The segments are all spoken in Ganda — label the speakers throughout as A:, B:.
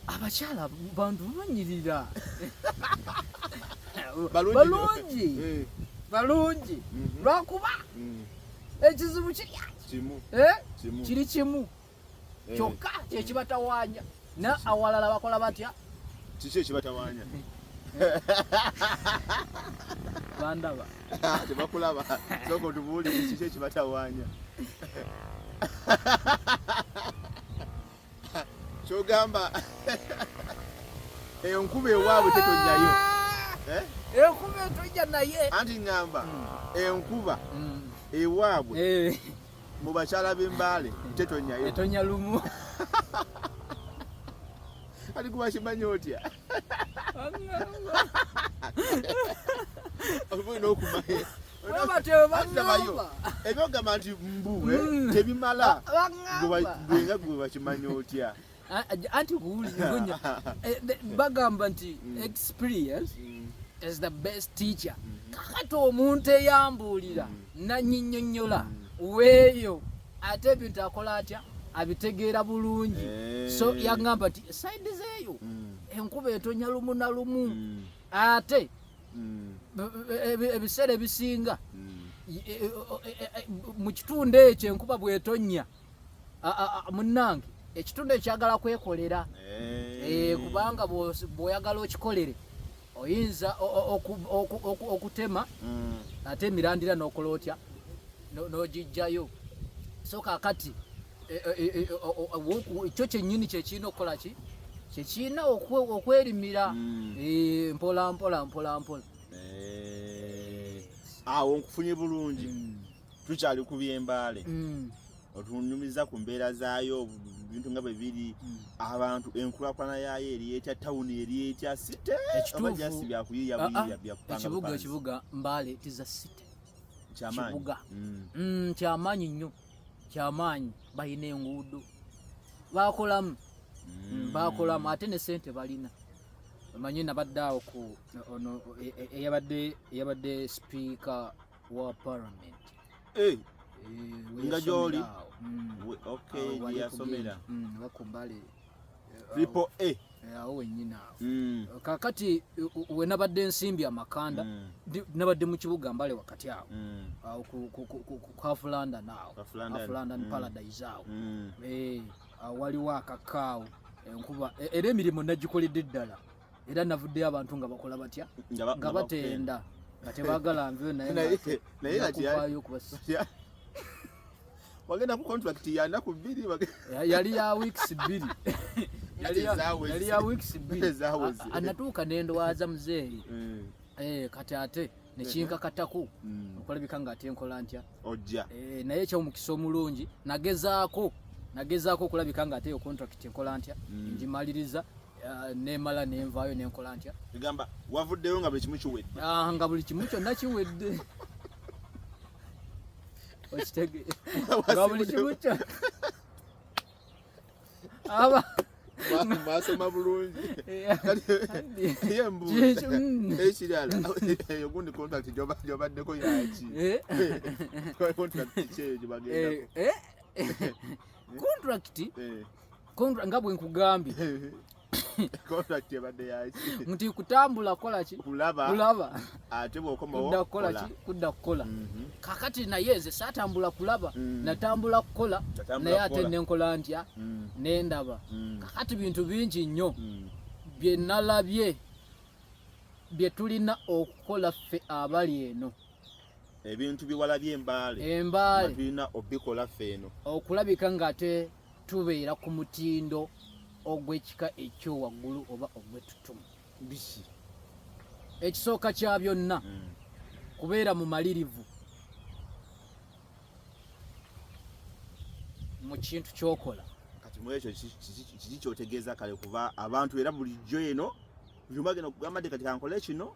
A: abakyala bantu banyirira balungi eh. balungi mhm. lwakuba mm. ekizibu kirya eh? kiri kimu eh. kyokka kyekibatawaanya na awalala bakola batya kiki
B: ekibatawaanya
A: bandaba tebakulaba
B: soka otubuulire kiki ekibatawaanya kyogamba enkuba ewaabwe tetonyayo eh?
A: enkuba etonja naye anti ngamba hmm.
B: enkuba hmm. ewaabwe eh. mu bakyala b'embaale tetonyayo etonya lumu ali kuba kimanyi otya oba olina okumanya ebyogamba nti mbu eh, mm. tebimala gwenga gwe bakimanya otya anti
A: kuwulizanya eh, bagamba nti mm. experience mm. is the best teacher mm-hmm. kakati omuntu eyambuulira nanyinyonyola weeyo ate ebintu akola atya abitegeera bulungi eh. so yagamba nti saidi zeeyo enkuba etonya lumu na lumu ate mm. ebiseera ebisinga mm. e, e, e, mu kitundu ekyo enkuba bwetonnya munnange ekitundu ekyagala kwekolera eh. Eh, kubanga bwoyagala okikolere oyinza okutema mm. ate emirandira nokola otya nogijjayo so kakati e, e, e, kyo kyennyini kyekirina okukola ki kyekirina okwerimira hmm. eh, mpola mpola mpola mpola eh,
B: awo nkufunye bulungi hmm. tukyali ku byembaale hmm. otunyumiza ku mbeera zaayo ebintu nga bwe biri hmm. abantu enkulakulana yaayo eri etya tawuni eri etya site oba jasi byakuyiiya ah, ah. buyiiya byakupangaekibuga ekibuga mbaale
A: tiza site kyamaanyi
B: hmm.
A: hmm, nnyo kyamaanyi balina enguudo bakolamu mm. bakolamu ate ne sente balina omanyi nabadde awo ku ono e, e, eyabadde eyabadde sipiika wa parliament eh,
B: nga gyoli mm. yasomera mm, bakumbale triple A eh, awo wenyini
A: awo mm. kakati wenabadde ensimbi amakanda mm. nabadde mu kibuga mbale wakati awo mm. awo ku half london awo half london mm. paradise awo mm. eh, awo waliwo akakaawo enkuba e, era emirimu nagikoledde ddala era navuddeyo abantu nga bakola batya nga batenda nga tebagala nveyo nayenayeyo kubasya wagenda ku contract yanaku bbiri yali ya weeks bbiri yali ya weeks bbiri anatuuka nendwaza muzeeyi mm. eh, kati ate nekinkakatako mm. okulabika nga ate nkola ntya ojja eh, naye
B: ekyomukisa
A: omulungi nagezaako nagezaako okulabika nga ate yo contract nkola ntya mm. ngimaliriza Eh, nemala nenvaayo nenkola ntya egamba wavuddeyo
B: nga buli kimu kiwedde ah, nga buli kimu kyonna
A: kiwedde okitege nga buli kimu kyo aba
B: masoma bulungi ekirala eyo gundi contract gyobaddeko yaki eh? contract kyeyo gyebagendako eh, contract
A: Kontra nga bwe nkugambye.
B: Contract ebadde yaki? Nti kutambula
A: kola ki? Kulaba. Kulaba. Ate bw'okomawo
B: kudda kukola ki? Kudda kukola.
A: Mhm. Kakati naye nze saatambula kulaba, mm. natambula kukola naye ate ne nkola ntya mm. ne ndaba. Mm. Kakati bintu bingi nnyo bye nalabye bye tulina okukola ffe abali eno. ebintu
B: byewalabye embaale embaale tulina obikola ffe eno okulabika ng'ate
A: tubeera ku mutindo ogw'ekika ekyowaggulu oba ogw'ettutumu biki ekisooka kya byonna hmm. kubeera mumalirivu mu kintu kyokola kati mu ekyo
B: kiki kyotegeeza kale kuba abantu era bulijjo eno byuma genda kugamba nti kati kankole kino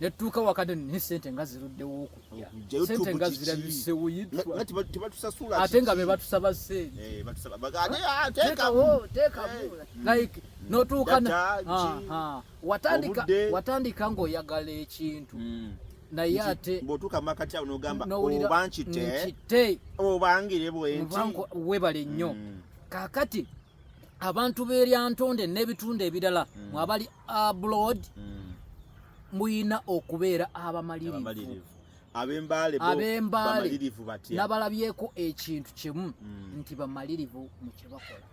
A: netutuuka wakati naye sente nga ziruddewo okujja sente nga zirabisewo yitwa ate
B: nga bebatusaba
A: senteteekawo eh, eh, hmm. like notuuka watandika watandika ngaoyagala ekintu hmm. naye ate bwotuuka makati awo
B: nogamba oba nkite obangire bwenti webale nnyo
A: hmm. kakati abantu beryantonde n'ebitundu ebirala mm. mwabali abroad mm. muyina okubeera abamalirivu abembaaleabeembaalemalirivu
B: batya
A: nabalabyeko ekintu kimu mm. nti bamalirivu mu kyebakola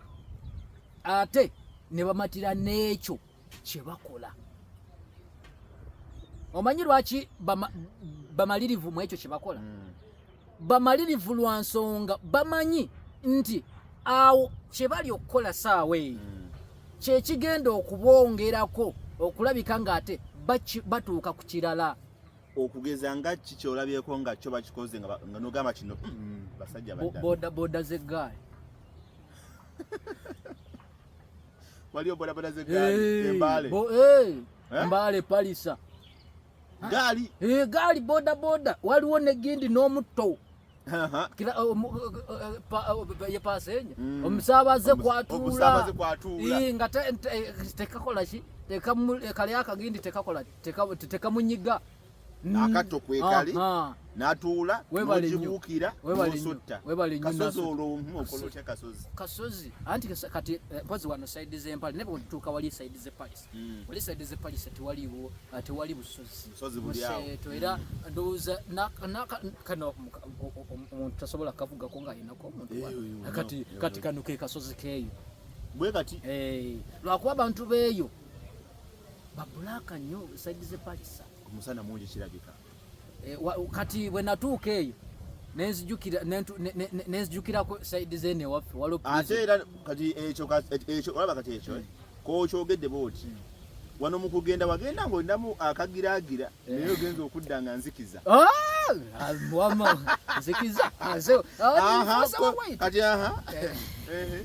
A: ate ne bamatira n'ekyo kye bakola omanyi lwaki bamalirivu mu ekyo kye bakola hmm. bamalirivu lwa nsonga bamanyi nti awo kye bali okukola saawa eyo hmm. kyekigenda okubongerako okulabika ng'ate batuuka ku kirala okugeza
B: nga ki kyolabyeko nga kyo bakikoze nga nogamba kino hmm, basajja boda boda
A: zegaali
B: waliyo bodaboda zegaali embaale eh?
A: mbaale palisa gaali eh,
B: gaali boda boda waliwo
A: negindi n'omutto yepaasenya omusaabaze kwatuula nga tekakola ki kali akagindi tekakola tekamunyiga mm.
B: akatto kwekali natuula nokibuukira nosotta kasozi olwo omu okola otya kasozi kasozi
A: anti kati eh, mpozi wano saidi zempale naye bwetutuuka wali saidi zepalisi mm. wali saidi zepalisi tewaliwo eh, tewali busozimuseeto era
B: mm. ndowooza
A: kano omuntu tasobola kavugako nga ayinako omuntu eh, kati kati kano ke kasozi keeyo bwe kati
B: lwakuba
A: abantu beeyo ba black nyo side ze pakisa omusana mungi kirabika
B: e, wa, kati
A: bwe natuuka eyo nenzijukira nenzijukirako side ze ne waffe walo ate era
B: kati ekyo ekyo olaba kati ekyo mm. ko kyogedde bwoti mm. wano mu kugenda wagenda ng'olinamu akagiraagira eh. naye ogenza okudda nga nzikiza ah! Ah,
A: nzikiza ah,
B: kati aha eh. eh.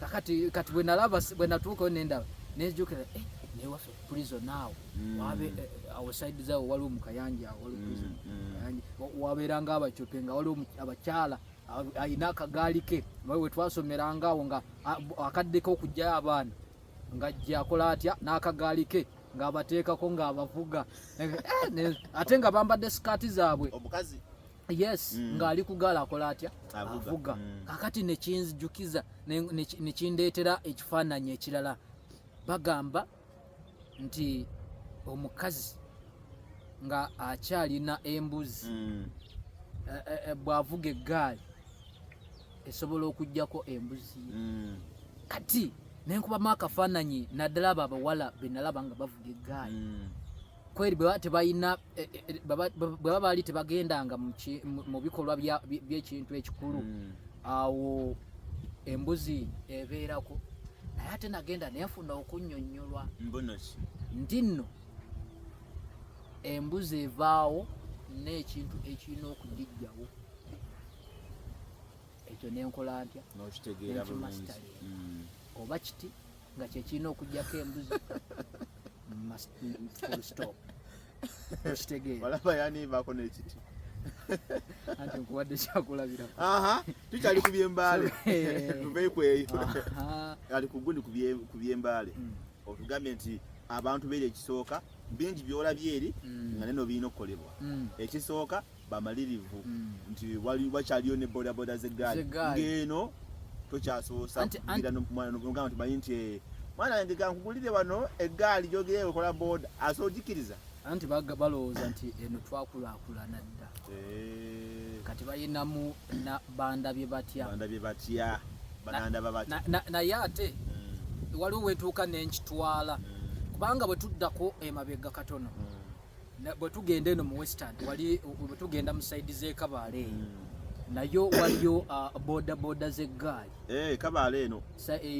B: kakati
A: kati bwenalaba bwenatuukayo nendaba nejukira eh, newaffe prison naawo mm. wabe eh, awoside zawo waliwo mukayanja awo waliwo mm, prison mm. wabeeranga abacope nga waliwo abakyala alina akagaali ke we twasomeranga awo nga akaddeko okujjayo abaana ngajja akola atya n'akagaali ke ng'abateekako ng'abavuga eh, eh, ate nga bambadde sikaati zaabwe omukazi
B: yes mm.
A: ng'ali kugaala akola atya avuga mm. kakati nekinzijukiza nekindeetera ekifaananyi ekirala bagamba nti omukazi nga akyalina embuzi mm. eh, eh, eh, bw'avuga eggaali esobola okujjako embuzi mm. kati nenkubamu akafaananyi naddala abo abawala benalaba nga bavuga eggaali mm. kweri bwebaba tebalina e, e, e, bwebaba baali tebagendanga mu bikolwa byekintu ekikulu mm. awo embuzi ebeerako naye ate nagenda nenfuna okunyonyolwa nti nno embuzi evaawo n'ekintu ekirina okugijjawo ekyo nenkola ntya nokitegeera bulungi mm. oba kiti nga kyekirina okujjako embuzi stop
B: okitegeera walaba yanivaako nekiti
A: anti nkuwadde kyakulabira tukyali
B: ku byembaale tuveyo kweyo ali kuguni ku byembaale mm. otugambye nti abantu beeri ekisooka bingi byolabyeeri mm. nga neno birina okukolebwa mm. ekisooka bamalirivu mm. nti wakyaliyo ne bodaboda zegaali ng'eno tokyasobosa kugira nomwana nogamba tumanyi nti eh, mwana wange kankugulire wano eggaali gyogere wekola boda ase ogikiriza anti
A: balowooza nti eno twakulakulana dda eh. kati bayinamu bandabye batya bandabye batya banandaba batya naye ate mm. waliwo wetuuka nenkitwala mm. kubanga bwe tuddako emabega katono mm. bwe tugenda eno mu western wali bwe tugenda mu saidi z'ekabaala eyo hmm. nayo waliyo
B: uh,
A: boda boda z'eggaali eh,
B: kabaala
A: eno eh,